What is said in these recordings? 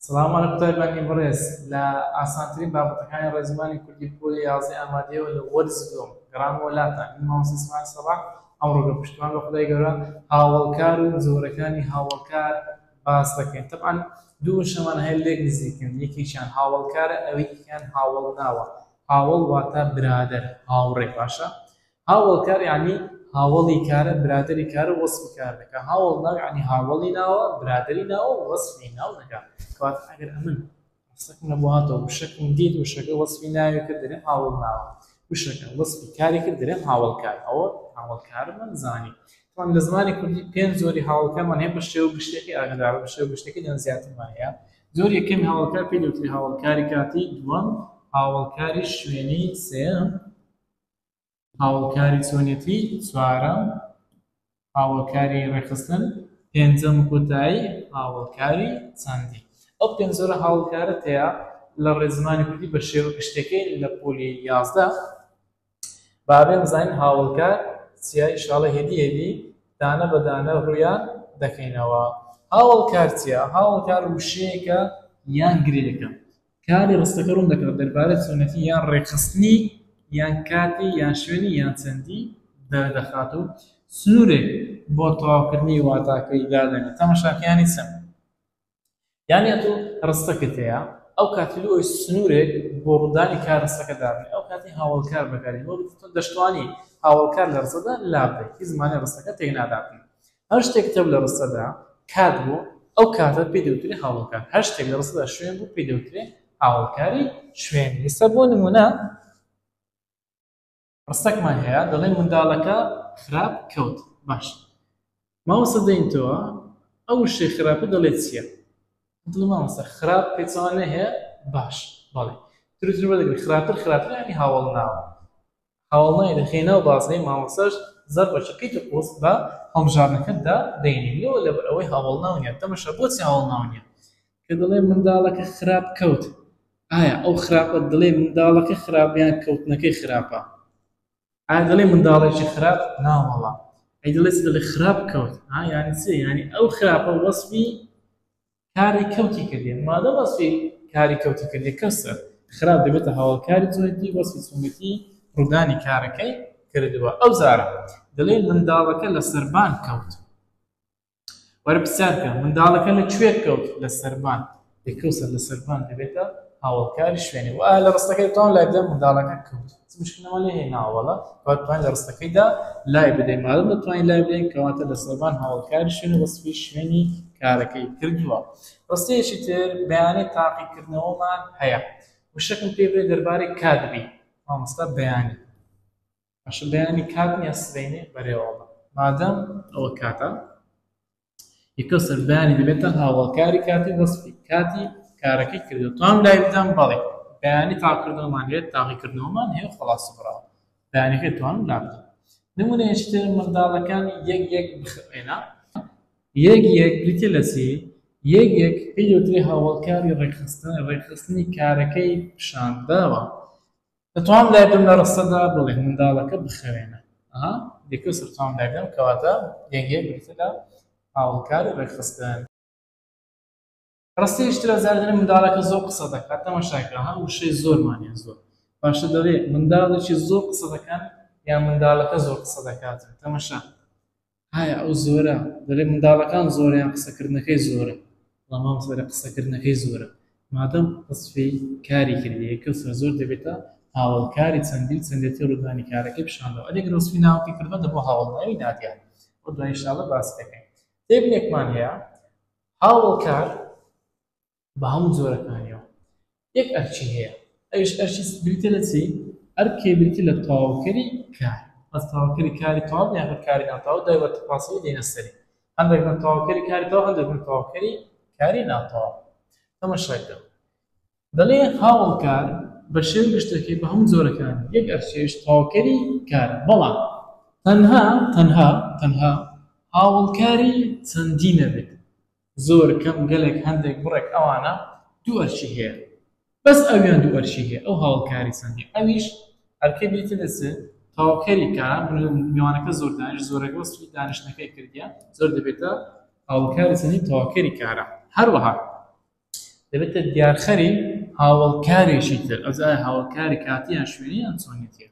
سڵاو ماڵە قوتای بانگی بەڕێز لە ئاسانترین بابەتەکانی ڕێزمانی کوردی پۆلی یازدەی ئامادەیەوە لە وەرز دووەم گەڕامەوە لاتان من مامۆستا ئیسماعیل سەباح ئەمڕۆ بە پشتمان بە خودای گەورە هاوڵکار و جۆرەکانی هاوڵکار باس دەکەین طبعا دوو شەمان هەیە لێک نزیکن یەکێکیان هاوڵکارە ئەوەیکیان هاوڵ ناوە هاوڵ واتە برادەر هاوڕێ باشە هاوەڵکار یانی هاوەڵی کارە برادەری کارە وەسفی کار دەکا هاوەڵناو یانی هاوەڵی ناوە برادەری ناوە وەسفی ناو دەکا کەواتە ئەگەر ئەمن قسەکم لە بۆ هاتەوە وشەکم دیت وشەکە وەسفی ناوی کرد دەرێم هاوەڵناوە وشەکە وەسفی کاری کرد دەرێم هاوەڵکار ئەوە هاوەڵکارمان زانی طبعا لە زمانی کوردی پێنج زۆری هاوڵکەمان هەیە بە شێوە گشتەکەی ئاگدار بە شێوە گشتەکەی لەن زیاترمان هەیە زۆر یەکەم هاوڵکار پێ دەوتری هاوڵکاری کاتی دووەم هاوڵکاری شوێنی سێم هاوکاری چۆنێتی چوارەم هاوکاری ڕێخستن پێنجەم کۆتایی هاوکاری چەندی ئەو پێنجۆرە هاوکارە تەیە لە ڕێزمانی کوردی بە شێوە گشتەکەی لە پۆلی یازدە بابێن زین هاوکار سیای شاڵە هێدی هێدی دانە بە دانە ڕویان دەکەینەوە هاوڵکارتیە هاوڵکار وشەیەکە یان گرێەکە کاری ڕستەکە ڕوون دەکات دەربارەی چۆنێتی یان ڕێکخستنی یان کاتی یان شوێنی یان چەندی دەردەخات و سنوورێک بۆ تەواوکردنی واتاکەی دادەنێت تەماشاکە یانی چەند یانی ئەتۆ ڕستەکەت هەیە ئەو کاتی لۆ سنوورێک بۆ ڕوودانی کار ڕستەکە دابنێ ئەو کاتی هاوڵکار بەکاری بۆ دەشتوانی هاوڵکار لە ڕستەدا لابدەیت هیچ زمانی ڕستەکە تێک نادابنێت هەر شتێک کتێب لە ڕستەدا کات بوو، ئەو کاتە پێی دەوترێ هاوەڵکار، هەر شتێک لە ڕستەدا شوێن بوو، پێی دەوترێ هاوەڵکاری شوێن. ئێستا بۆ نموونە ڕستەکمان هەیە دەڵێ منداڵەکە خراپ کەوت. باشە مامۆستا دەین تۆ ئەو شتێ خراپە دەڵێ چییە؟ دڵ مامۆستا خراپ پێچەوانەی هەیە؟ باش بەڵێ ترتر وەردەگری خراپتر خراپتر یانی هاوەڵ ناوە. هەواڵنای لە غێنا و بازنەی مامۆستاش زەڕ بە چەقی تەپۆست بە هەڵبژاردنەکەتدا دەینێن لۆ لەبەر ئەوەی هاوەڵناو نیە تەمەشا بۆچی هاوەڵناو نیە کە دەڵێ منداڵەکە خراپ کەوت ئایا ئەو خراپە دڵێ منداڵەکە خراپ یان کەوتنەکەی خراپە ئایا دەڵێ منداڵێکی خراپ ناوەڵا ئەی دەڵێ چ دەڵێ خراپ کەوت ها یانی چی یانی ئەو خراپە وەسفی کاری کەوتی کردیە مادەم وەسفی کاری کەوتی کردی کەسە خراپ دەبێتە هاوڵکاری تۆیدی وەسفی سونەتی ڕوودانی کارەکەی کردووە ئەو زارە دەڵێ منداڵەکە لە سەربان کەوت وەرە پرسیارکە منداڵەکە لە کوێ کەوت لە سەربان لەکەوسەر لە سەربان دەبێتە هاوڵکاری شوێنی و لە ڕستەکەی تاون لای بدە منداڵەکە کەوت مشکلمان لێ هێناوەڵە بەتوان لە ڕستەکەیدا لای بدەین مادەم دەتوانین لای بدەین کەواتە لە سەربان هاوڵکار شوێن وەسفی شوێنی کارەکەی کردووە ڕستەیەکی تر بەیانەی تاقیکردنەوەمان هەیە وشەکم پێ بێ دەربارەی کاتبی مامۆستا بەیانی باشە بەیانی کات نیە سبەینێ بەرێوەڵە مادەم ئەوە کاتە یەکە سەردانی دەبێتە هاوڵکاری کاتی وەسفی کاتی کارەکەی کردو تام لای بدەم بەڵێ بەیانی تاقکردنەوەمان لێت تاقیکردنەوەمان هەیە خلاص بڕا بەیانەکەی توان لا بدەم نمونەیەشتر منداڵەکان یەک یەک بخێنا یەک یەک بریتە لە چی یەک یەک پێی وترێ هاوڵکاری ڕێکخستن ڕێکخستنی کارەکەی پیشانداوە دەتوانم لای بم لە ڕستەدا بڵێم منداڵەکە بخەوێنە ئەها یەکەو سەرچاوم لای بنێم کەواتە یەنگێ بریتە لە هاوڵکاری ڕێکخستن ڕستەیش ترە زار دەڵێ منداڵەکە زۆر قسە دەکات تەماشاکە ها وشەی زۆرمانە زۆر باشە دەڵێ منداڵێکی زۆر قسە دەکەن یان منداڵەکە زۆر قسە دەکات تەماشا ئایا ئەو زۆرە؟ دەلێ منداڵەکان زۆرە یان قسەکردنەکەی زۆرە؟ وەڵا مامۆستا دەلێ قسەکردنەکەی زۆرە مادەم وەسفی کاری کردیە کەسرە زۆر دەبێتە هاوەڵکاری چەندین چەندێتی ڕودانی کارەکەی پیشاندەوە ئەدی گەر وەسفی ناوەکی کردبا دەبوە هاوەڵناوی نادیار بۆ دوای ان شاء اللە باسی دەکەین تێبینێکمان هەیە هاوەڵکار بە هەموو جۆرەکانیەوە یەک ئەرچی هەیە ئەوش ئەرچی بریتە لە چی ئەرکێ بریتی لە تەواوکەری کار ئەس تەواوکەری کاری تەواو یان کاری ناتەواو دوای وە تەپاسەوە دێنە سەری هەندێک من تەواوکەری کاری تەواو هەندێک من تەواوکەری کاری ناتەواو تەمەشاکە دەڵێ هاوڵکار بە شێو گشتەکەی بە هەموو جۆرەکان یەک ئەرچێش تەواوکەری کار بەڵام تەنها تەنها تەنها هاوڵکاری چەندی نەبێت زۆر کەم گەلێک هەندێک بڕێک ئەوانە دوو ئەرکی هەیە بەس ئەویان دوو ئەرکی هەیە ئەو هاوڵکاری چەندی ئەویش ئەرکەی بیتنس تەواوکەری کە میوانەکە زۆر دانیش زۆرەکە وەسفی دانیشتنەکەی کردیە زۆر دەبێتە هاوڵکاری چەندی تەواوکەری کارە هەروەها دەبێتە دیارخەری هاوڵکارێکی تر ئەوزای هاوڵکاری کاتیان شوێنیان چۆنێتیە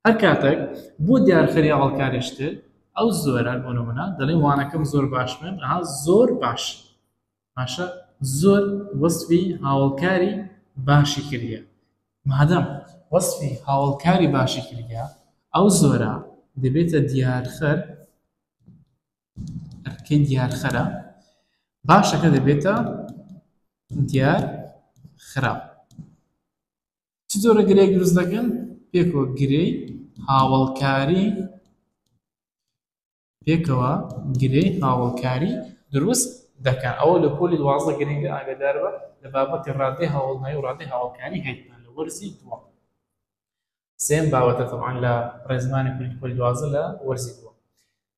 هەر کاتەک بۆ دیارخەری هەڵکارێشتر ئەو زۆرە بۆ نمونە دەڵێم وانەکەم زۆر باش بن ئەها زۆر باش باشە زۆر وەسفی هاوڵکاری باشی کردە مادەم وەسفی هاوڵکاری باشی کردە ئەو زۆرە دەبێتە دیارخەر ئەرکەی دیارخەرە باشەکە دەبێتە دیار خراپ چ جۆرە گرێیەک دروست دەکەن پێکەوە گرێی هاوڵکاری پێکەوە گرێ هاوڵکاری دروست دەکەن ئەوە لە پۆلی دوازدە گرنگە ئاگدار بە لە بابەتی ڕادێ هاوڵنای و ڕادێ هاوڵکاری هەیتمان لە وەرزی دووە سێم باوەتە تەوان لە ڕێزمانی پۆلی دوازدە لە وەرزی دووە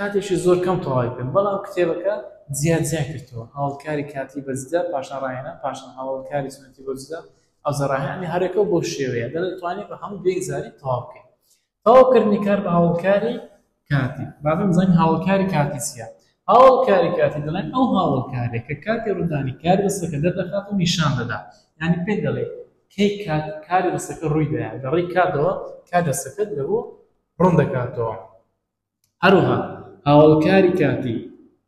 کاتێکی زۆر کەم تەواوی کرد بەڵام کتێبەکە زیاد زیاد کردەوە هەوڵکاری کاتی بەجدە پاشان ڕاهێنا پاشان هەوڵکاری سنەتی بەجدە ئەوزە ڕاهێنانی هەرەکە بۆ شێوەیە دەتوانێت بە هەموو دوێک زاری تەواو بکەیت تەواوکردنی کار بە هەوڵکاری کاتی بابم زەنگ هەوڵکاری کاتی چیە هەوڵکاری کاتی دەڵێن ئەو هەوڵکارێک کە کاتی ڕوودانی کار دەستەکە دەردەخات و نیشان دەدا ینی پێ دەڵێ کەی کات کاری دەستەکە ڕووی دەیان دەڕی کاتەوە کار دەستەکەت لەبوو ڕوون دەکاتەوە هەروەها هاوەڵکاری کاتی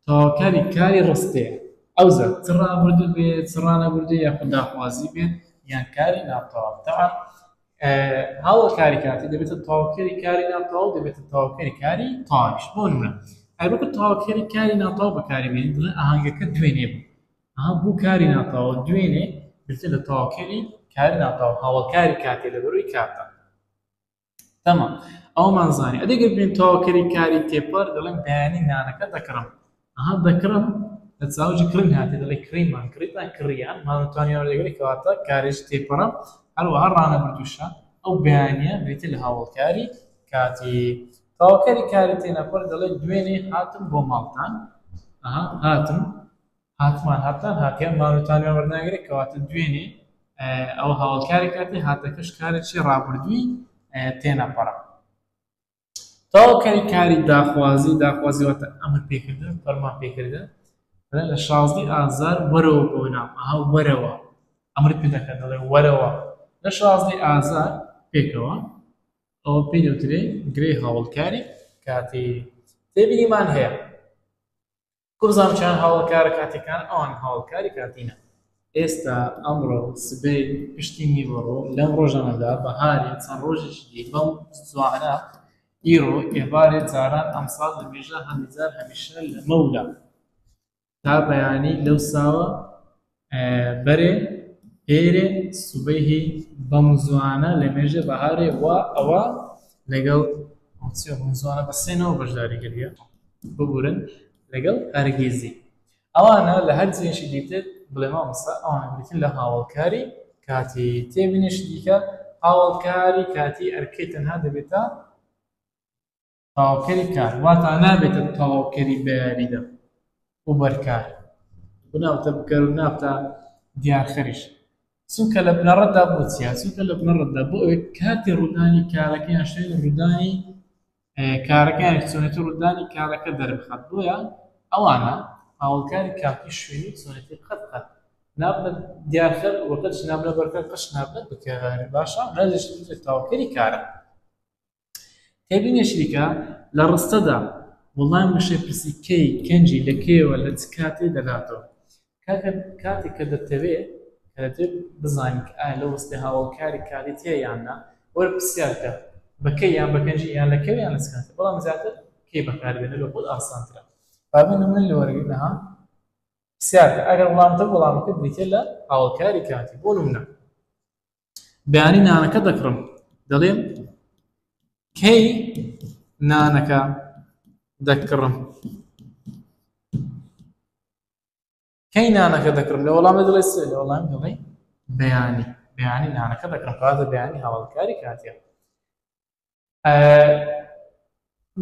تەواوکاری کاری ڕستەیە، ئەوجا چ ڕابردوو بێت، چ ڕانەبردوو یاخود داخوازی بێت یان کاری ناتەواو. تەعەن هاوەڵکاری کاتی دەبێتە تەواوکەری کاری ناتەواو و دەبێتە تەواوکەری کاری تەواویش. بۆ نموونە، ئەگەر وەکو تەواوکەری کاری ناتەواو بەکاری بێنین، دەڵێین ئاهەنگەکە دوێنێ بوو. ئەها بوو کاری ناتەواو، دوێنێ بریتییە لە تەواوکەری کاری ناتەواو، هاوەڵکاری کاتییە لەبەرووی کاتە. تەمام ئەوەمان زانی ئەدی گەر بێین تەواوکەری کاری تێپەر دەڵێن بەیانی نانەکە دەکڕم ئەها دەکڕم لە چاوجی کڕین هاتێ دەڵێ کڕیمان کڕیتان کڕیان مانتوانی وەردەگری کەواتە کارێژ تێپەڕە هەروەها ڕانەبردووشە ئەو بەیانە بریتە لە هاوڵکاری کاتی تەواوکەری کاری تێنەپەر دەڵێ دوێنێ هاتم بۆ ماڵتان ئەها هاتم هاتمان هاتان هاتیان مانوتانیان وەرناگرێ کەواتە دوێنێ ئەوە هاوڵکارێک کاتی هاتەکەش کارێکی ڕابردووی تێنەپەڕە تەواوکاری کاری داخوازی داخوازی واتە ئەمر پێکردن فەرمان پێکردن لە شازدی ئازار وەرەوە بۆ نام ئەها وەرەوە ئەمر پێ دەکەن دەڵێ وەرەوە لە شازدی ئازار پێکەوە ئەوە پێی دەوترێ گرێ هاوڵکاری کاتی تێبینیمان هەیە کوڕزان کیان هاوڵکارە کاتیەکان ئەوان هاوڵکاری کاتینە. ئێستا، ئەمڕۆ، سبەی، پشتی نیوەڕۆ، لەم ڕۆژانەدا، بەهارێ، چەند ڕۆژێکی دی، بەم زوانە، ئیرۆ، ئێبارێ، جاران، ئەمساڵ، لەمێژە، هەندی جار، هەمیشە، لەمەولا، تا بەیانی، لەوساوە، بەرێ پێرێ سوبەیهی بەم زوانە لە مێژێ بەهارێ وا ئەوە لەگەڵ چیە بەم زوانە بە سێ نەوە بەشداری کردیە ببورن لەگەڵ هەرگیزی ئەوانە لە هەر جێشی دیتر بڵێ مامۆستا ئەوانە بریتین لە هاوڵکاری کاتی تێبینیش دیکە هاوڵکاری کاتی ئەرکەی تەنها دەبێتە تەواوکەری کار واتا نابێتە تەواوکەری بە یاریدە و بەرکار بناوتە بکەر و نابتە دیارخەریش سوکە لە بنەڕەتدا بۆ چیە سوکە لە بنەڕەتدا بۆ ئەوێت کاتی ڕوودانی کارەکەیان شوێن ڕوودانی کارەکەیان چۆنێتی ڕوودانی کارەکە دەربخات بۆیە ئەوانە هاوڵکاری کاتی شوێنی چۆنێتی قەت قەت نابنە دیارخەر وەکەش نابنە بەرکە قەش نابنە بکەواری باشە ڕێزش تاوکەری کارە تێبینێکی دیکە، لە ڕستەدا وەڵامی وشەی پرسی کەی، کەنجی، لە کەیەوە، لە چ کاتێ دەداتەوە. کاکە کاتێک کە دەتەوێ کە دەتەوێت بزانیت کە ئایا لەو ڕستەیە هاوەڵکاری کاتی تیایە یان نا، وەرە پرسیار بکە بە کەی یان بە کەنجی یان لە کەوێ یان لە چ کاتێ، بەڵام زیاتر کەی بەکار بێنە لۆ خۆت ئاسانترە. با بێ نموونە لە وەرگرتنەها پرسیار بکە ئەگەر وەڵامت هەبوو وەڵامەکە بریتیە لە هاوەڵکاری کاتی. بۆ نموونە. بەیانی نانەکە دەکڕم دەڵێم کەی نانەکە دەکڕم کەی نانەکە دەکڕم لە وەڵامی دڵێ سێ لە وەڵام دڵێ بەیانی بەیانی نانەکە دەکڕم کاتە بەیانی هەواڵکاری کاتێ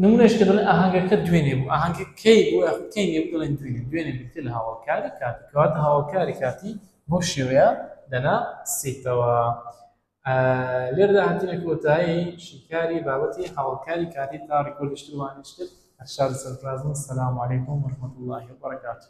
نمونەش کە دەڵێن ئاهەنگەکە دوێنێ بوو ئاهەنگە کەی بوو کەی نێ دەڵێن دوێنێ دوێنێ بتێ لە هاوڵکاری کاتی کەواتە هاوڵکاری کاتی بۆ شێوەیە دەنا سێتەوە لێردا هاتنە کۆتایی شیکاری بابەتی هاوڵکاری کاتی تا ڕیکۆلشتوانشتر هەرشار سەرفرازم سلام علیکم وەرحمەت اللهی وبرکاته